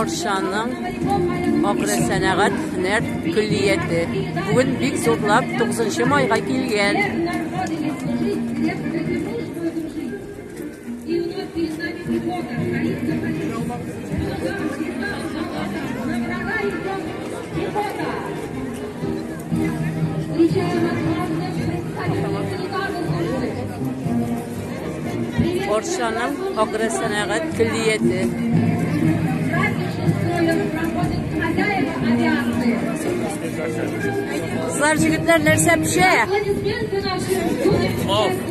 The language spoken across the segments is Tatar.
Оршаның Акры сәнәгать һөнәр көллияте бүген бик зурлап 9 майга килгән. Оршаның агросәнәгать көллияте. Кызлар, җегетләр нәрсә пешә?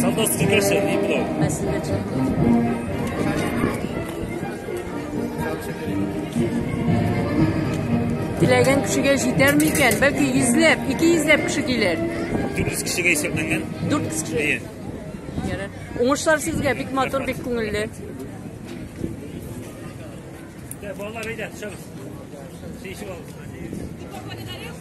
Солдатский кашель, не плов. Спасибо, Теләгән кешегә җитәрме икән? Бәлки 100 ләп, 200 ләп кеше килер. 400 кешегә исәпләнгән. 400 кеше. Әйе. Ярар. Уңышлар сезгә, бик матур, бик күңелле. Балалар әйдә, чыгыз. Сеишеп алып.